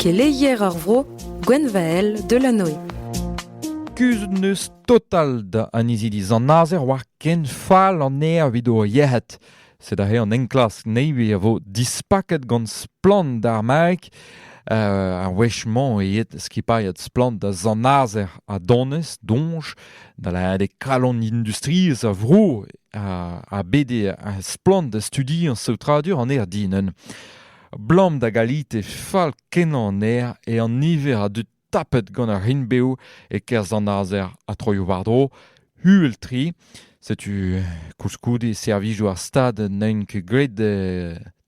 Keleier ar vro Gwenvael Delanoë. Kuzhet n'eus total da an izili zanazer war ken fall an aer evit o yec'hed. Sed aze an enklask Navy a vo dispaket gant splann d'ar Maek uh, ar wech-mañ eet skipailhat splann da zanazer a donez, donj da lâret eo kalon industriezh a vro a bet splann da studiañ saotradur an aer dinañ. Blam da galite fall-kenañ an aer eo an niver a dud tapet gant ar rinbeoù e-kerzh an azer ha troioù-war-dro, uhel-tre. Setu koulskoude servijoù ar Stad n'int ket graet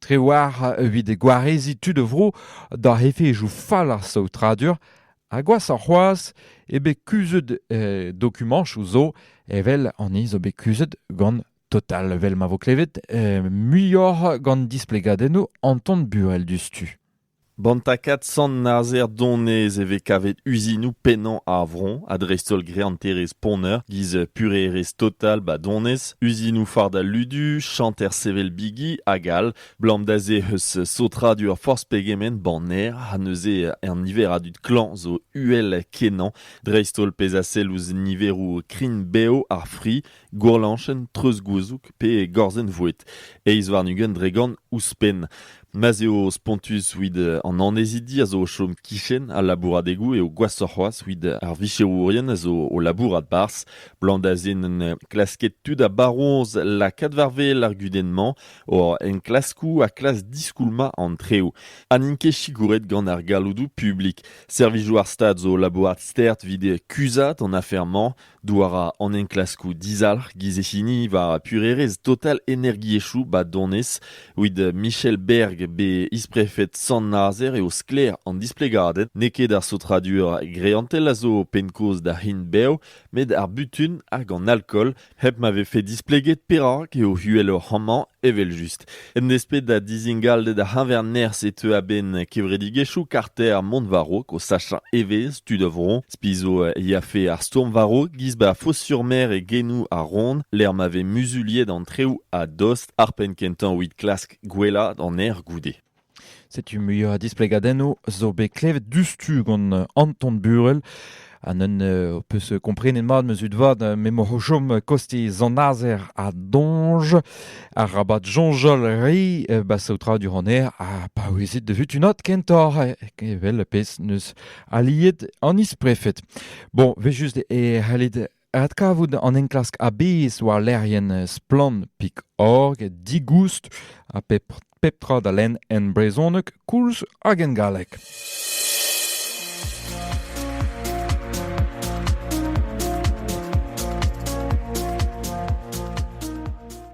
tregwar evit gwareziñ tud a vro d'ar efezoù fall ar saotradur Ha gwashoc'h c'hoazh eo bet kuzhet dokumañsoù zo evel an hi zo bet kuzhet gant Total, evel ma vo klevet, muioc'h gant displegadennoù Anton Burel diouzhtu. Ban takad Sant-Nazer Donez e vez kavet uzinoù pennañ ar vro, ha dreist-holl greanterezh Poneur, giz purerezh Total ba Donez, uzinoù fard al ludu, chanter sevel bigi, hag all. Blam da se eus saotradur forzh pegement banner ha neuze an niver a dud klañv zo uhel-kenañ dreist-holl pezh a sell ouzh niveroù krign-bev ar fri, gourlanchenn, treuzgouzoug pe gorzenn-voued. Eizh warn-ugent dregont ouzhpenn. Ma'z eo spontus evit an annezidi a zo o chom kichen al labouradegoù eo gwashoc'h c'hoazh evit ar vicherourien a zo o labourat barzh. Blam da se n'en klask ket tud a baroñs lakaat war wel ar gudenn-mañ Hor enklaskoù a klask diskoulmañ an treoù ha n'int ket sikouret gant ar galloudoù publik. Servijoù ar Stad zo labourat stert evit kuzhat an afer-mañ douar an enklaskoù dizalc'h giz e hini war purerezh total energiezhioù ba Donez. Evit Michel Berg, bet is-prefed Sant-Nazer, eo sklaer an displegaded n'eo ket ar saotradur greantel a zo penn-kaoz da c'hin bev, met ar butun hag an alkool Hep ma vefe displeget perak eo uheloc'h amañ, evel-just. En desped da dizingalded ar c'heñver-nerzh e teu a-benn kevredigezhioù karter Mont-Varrok o sachañ evezh tud a vro. Spi zo e afe ar stourm varrok giz ba Fos-sur-Mer e genoù ar Rhône, lec'h ma vez muzuliet an treoù a-dost ar penn-kentañ evit klask gwellañ an aer goude. Setu muiañ a displegadennoù zo bet klevet diouzhtu gant Anton Burel. Ha n'en ho peus komprenet mat, ma zud vat, m'emaoc'h o chom kostiz an Azer ha Donj. Arabat soñjal re, ba saotradur an aer, ha paouezit da vutunat kentoc'h, evel pezh 'neus aliet an is-prefed. Bon, 'vez just e c'hallit Adkavout an enklask a-bezh war lec'hienn Splann.org digoust ha pep tra da lenn en brezhoneg koulz hag en galleg.